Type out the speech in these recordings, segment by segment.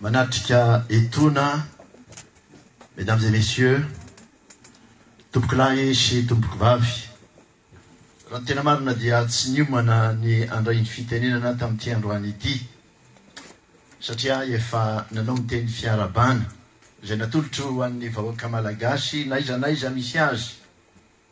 Manatrika etona Mesdames et Messieurs, Tompoko lahy sy Tompoko vavy, raha ny tena marina dia tsy niomana ny handray ny fitenenana tamin'ity androany ity satria ahy efa nanao ny teny fiarahabana izay natolotro ho an'ny vahoaka Malagasy n'aiza n'aiza misy azy,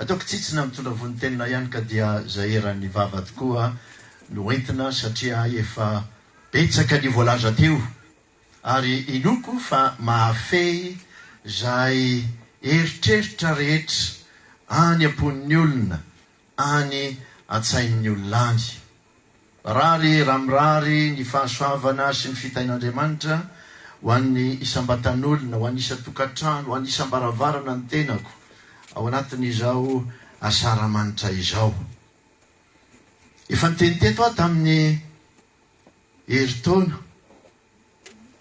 Ataoko tsitsina mitondra vonontenina ihany ka dia izay eran'ny vava tokoa no entina satria efa betsaka ny voalaza teo ary inoako fa mahafehy izay eritreritra rehetra any am-pon'ny olona, any an-tsain'ny olona any. Marary raha mirary ny fahasoavana sy ny fitahian'Andriamanitra ho an'ny isam-batan'olona, ho an'ny isan-tokantrano, ho an'ny isam-baravarana ny tenako ao anatin'izao asaramanitra izao. Efa niteny teto aho tamin'ny herintaona,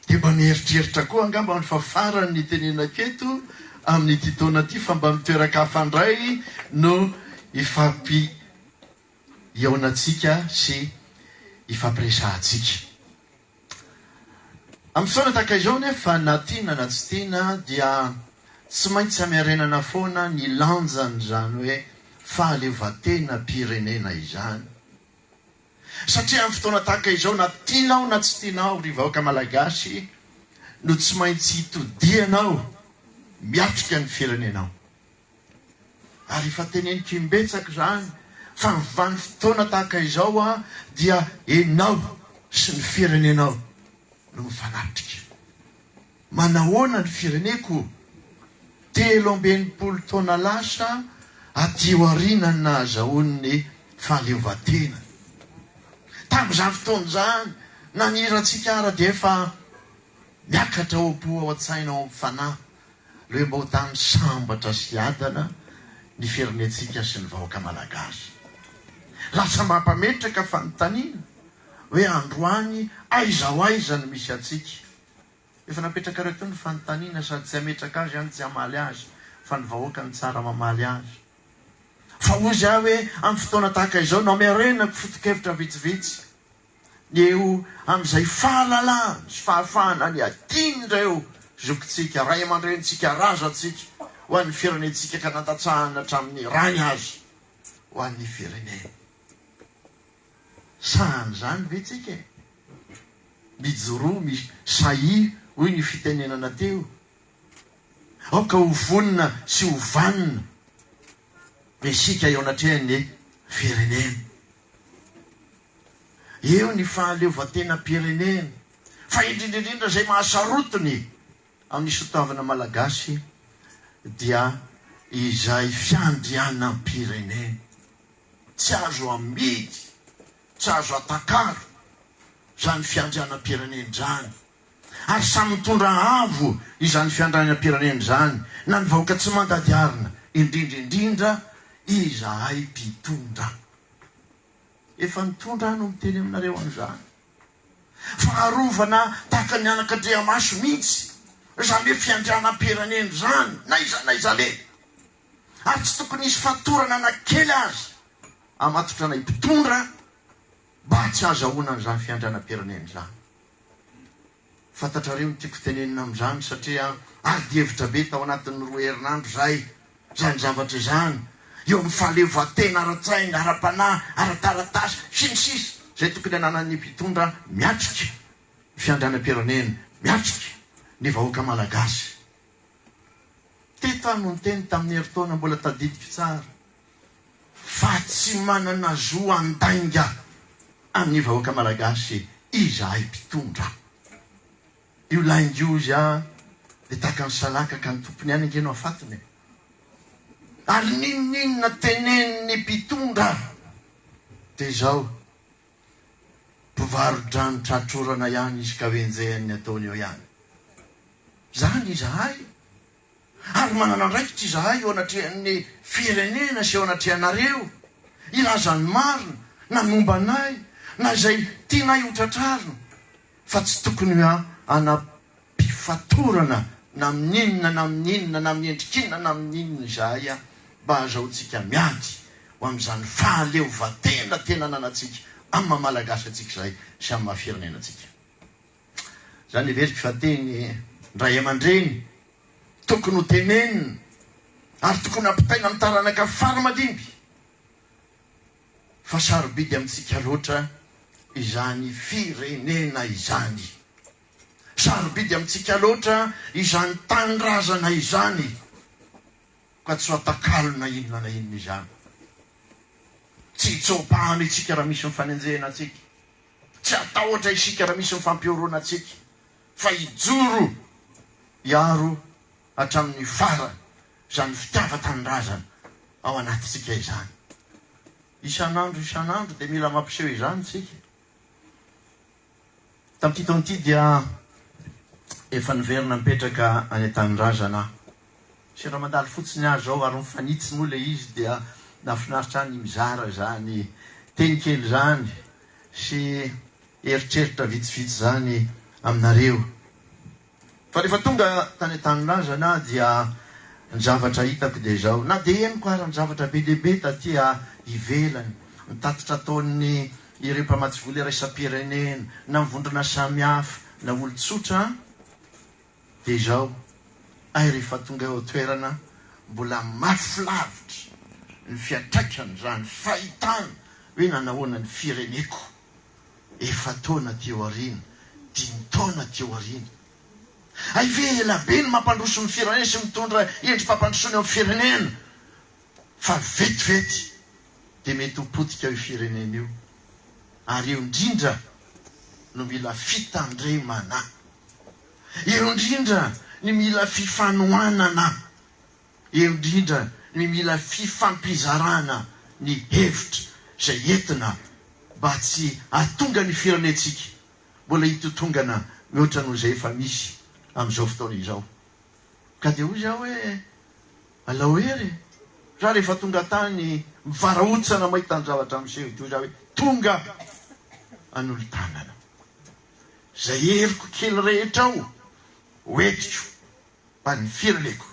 dia mba mieritreritra koa angamba aho fa farany ny tenenako eto amin'ity taona ity fa mba mitoeran-kafa indray no hifampi hihaonantsika sy hifampiresahantsika. Amin'ny fotoana tahaka izao anefa, na tiana na tsy tiana, dia tsy maintsy hamerenana foana ny lanjan'izany hoe fahaleovantenam-pirenena izany. Satria amin'ny fotoana tahaka izao, na tianao na tsy tianao, ry vahoaka malagasy, no tsy maintsy hitodianao miatrika ny firenenao. Ary efa teneniko imbetsaka izany fa ny vanim-potoana tahaka izao dia ianao sy ny firenenao no mifanatrika. Manahoana ny fireneko? Telo amby enimpolo taona lasa aty aoriana no nahazahoany ny fahaleovan-tena. Tamin'izany fotoana izany nanirantsika ary dia efa miakatra ao am-po, ao an-tsaina, ao amin'ny fanahy Rainbow Dames sambatra sy adana ny firenentsika sy ny vahoaka malagasy. Lasa mampametraka fanontaniana hoe androany aiza ho aiza no misy antsika. Efa napetrakareo teo ny fanontaniana sady tsy hametraka azy aho no tsy hamaly azy fa ny vahoaka no tsara mamaly azy. Fa hoy za hoe amin'ny fotoana tahaka izao no hamerenako foto-kevitra vitsivitsy. ny eo amin'izay fahalalahany sy fahafahana ny adin'ireo zokintsika, ray aman-drenintsika, razantsika ho an'ny firenentsika ka nandatsahana hatramin'ny rany azy ho an'ny firenena. Sahy an'izany ve tsika e? Mijoroa mi sahy hoy ny fitenenana teo. Aoka ho vonona sy ho vanona isika eo anatrehan'ny firenena. Eo ny fahaleovantenam-pirenena, fa indrindra indrindra izay mahasarotiny amin'ny sotoavina malagasy dia izay fiandrianam-pirenena. Tsy azo amidy, tsy azo atakalo izany fiandrianam-pirenena izany. ary samy mitondra avo izany fiandrianam-pirenena izany na ny vahoaka tsy mandady arina, indrindra indrindra izahay mpitondra. Efa nitondra aho no miteny aminareo an'izany. Faharovana tahaka ny anak'Andriamaso mihitsy izany hoe fiandrianam-pirenena izany na iza na iza le! Ary tsy tokony hisy fatorana na kely aza hamatotra anay mpitondra. Mba tsy hahazahoana an'izany fiandranam-pirenena izany. Fantatrareo ny tiako tenenina amin'izany satria adi-hevitra be tao anatin'ny roa herinandro izay izany zavatra izany, eo amin'ny fahaleovantena ara-tsaina, ara-panahy, ara-taratasy, sy ny sisa Izay tokony ananan'ny mpitondra miatrika ny fiandranam-pirenena, miatrika ny vahoaka malagasy. Teto aho no niteny tamin'ny herintaona mbola tadidiko tsara fa tsy manana zo handainga an'ny vahoaka malagasy izahay mpitondra. Io lainga io hozy aho dia tahaka ny salaka ka ny tompony ihany ange no hafatony e! Ary n'inon'inona tenenin'ny mpitondra dia izao Mpivaro-drano tratrorana ihany izy ka enjehany ny ataony eo ihany. Izany izahay. Ary manana andraikitra izahay eo anatrehan'ny firenena sy eo anatrehanareo hilaza ny marina na momba anay na izay tianay ho tratrarina. fa tsy tokony ho ana-pifatorana na amin'ny inona na amin'ny inona na amin'ny endrik'inona na amin'ny inona izahay mba hahazahoantsika miady ho amin'izany fahaleovantena tena ananantsika amin'ny maha Malagasy antsika izahay sy amin'ny maha firenenantsika izany. Heveriko fa teny raiamandreny tokony ho tenenina ary tokony hampitaina amin'ny taranaka fara-mandimby. fa sarobidy amintsika loatra izany firenena izany, sarobidy amintsika loatra izany tanindrazana izany, ka tsy fatakalo na inona na inona izany. Tsy hitsoa-pano isika raha misy mifanenjehina antsika, tsy hatahotra isika raha misy mifampihoroana antsika, fa hijoro hiaro hatramin'ny farany izany fitiavan-tanindrazana ao anatintsika izany. Isan'andro isan'andro dia mila mampiseho izany isika. Tamin'ity taona ity dia efa niverina nipetraka any an-tanindrazana aho. Sendra mandalo fotsiny aho izao ary mifanitsy moa ilay izy dia nahafinaritra ahy ny mizara izany teny kely izany sy eritreritra vitsivitsy izany aminareo. Fa rehefa tonga tany an-tanindrazana aho dia ny zavatra hitako dia izao, na dia henoko ary ny zavatra be dia be taty ivelany, ny tatitra ataon'ny ireo mpamatsy vola iraisam-pirenena, na ny vondrona samihafa, na olon-tsotra, dia izao, hay rehefa tonga eo an-toerana mbola mafy lavitra ny fiantraikan'izany fahitana hoe nanahoana ny fireneko Efa-taona aty aoriana, dimy taona aty aoriana. Hay ve ela be ny mampandroso ny firenena sy mitondra endri-pampandrosoana eo amin'ny firenena fa vetivety dia mety ho potika io firenena io ary eo indrindra no mila fitandremana. Eo indrindra ny mila fifanohanana. indrindra ny mila fifampizarana ny hevitra izay entina mba tsy hahatonga ny firenentsika mbola hitotongana mihoatra noho izay efa misy amin'izao fotoana izao. Ka dia hoy aho hoe, alao hery e! Za rehefa tonga tany mivarahotsana mahita ny zavatra miseho dia hoy za hoe, tonga hanolo-tanana izay heriko kely rehetra ao, hoentiko. Fa ny fireneko.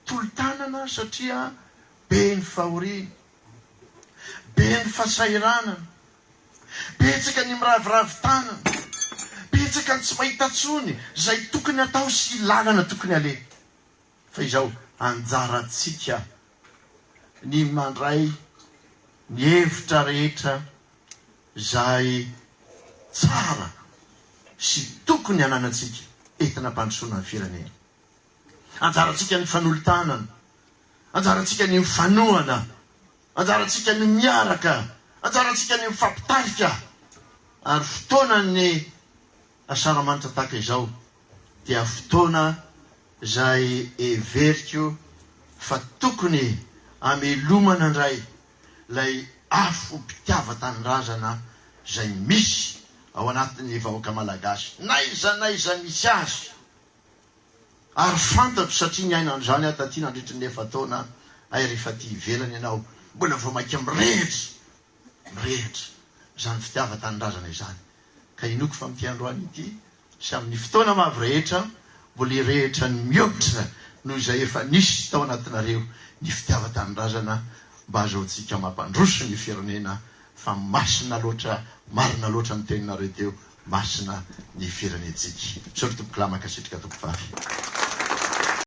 Tolo-tanana satria be ny fahoriana, be ny fasahiranana, betsaka ny miraviravy tanana, betsaka ny tsy mahita tsony izay tokony hatao sy lalana tokony haleha. Fa izao anjarantsika ny mandray ny hevitra rehetra. izay tsara sy tokony hananantsika entina hampandrosoana ny firenena. Anjarantsika ny fanolo-tanana, anjarantsika ny mifanohana, anjarantsika ny miaraka, anjarantsika ny mifampitarika ary fotoanan'ny Asaramanitra tahaka izao dia fotoana izay heveriko fa tokony hamelomana indray ilay afom-pitiavan-tanindrazana izay misy ao anatin'ny vahoaka malagasy, n'aiza n'aiza misy azy, ary fantatro satria niaina an'izany aho taty nandritry ny efa-taona, hay rehefa aty ivelany ianao mbola vao mainka mirehitra, mirehitra izany fitiavan-tanindrazana izany, ka inoako fa amin'ity androany ity, sy amin'ny fotoana mavo rehetra, mbola hirehitra ny mihoatra noho izay efa nisy tao anatinareo ny fitiavan-tanindrazana mba azahoantsika mampandroso ny firenena fa masina loatra, marina loatra ny teninareo teo, masina ny firenentsika. Misaotra Tompokolahy, mankasitrika Tompovavy.